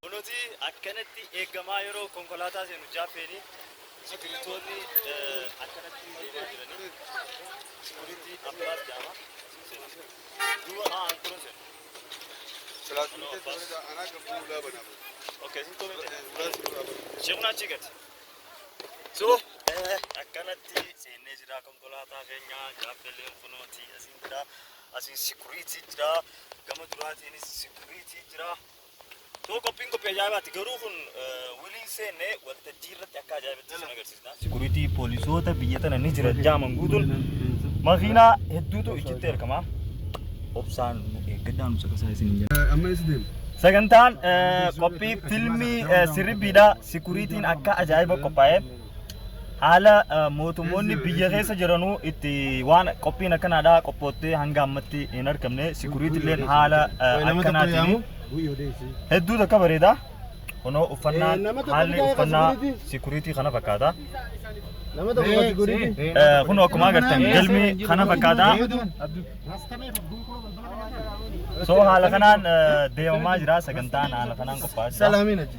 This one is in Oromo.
Kunoti akkanatti eegamaa yeroo konkolaataa seenu jaappeenii sigirintoonni akkanatti deemaa jiranii sikuritii abbaas jaama seena. Duuba haa anturan seena. Okay, isin too miti. Sheekuna achii gadi. So, akkanatti seennee jira konkolaataa keenya jaappeeleen kunooti asiin jira. Asiin sikuriitii jira. Gama duraatiinis sikuriitii jira. Too qophiin qophii ajaa'ibaati. Garuu kun wiliin seenne waltajjii irratti akka ajaa'ibaatti isin agarsiisna. Sikuriitii poolisoota biyya tana ni jira jaaman guutuun makiinaa hedduutu ichitti ergama. Obsaan nu eeggadhaa nu caqasaa isin hin jenna. Amma eessa deema? Sagantaan qophii filmii sirriibbiidha. Sikuriitiin akka ajaa'iba qophaa'e. haala eh, mootummoonni biyya keessa jiranuu itti waan qophiin akkanaadhaa qophoottee hanga ammatti hin argamne sikuriitilleen haala eh, Nama tokko akkanaatiin yaamu. hedduu takka bareeda kunoo Eh, uffannaan nama tokko haalli bitaa uffannaa security. sikuriitii kana fakkaata Nama tokko gadi godhiti. Eh, kun akkuma agartan galmi kana fakkaata soo haala kanaan eh, deemamaa jira sagantaan haala kanaan qophaa'aa jira Salaamiin achi.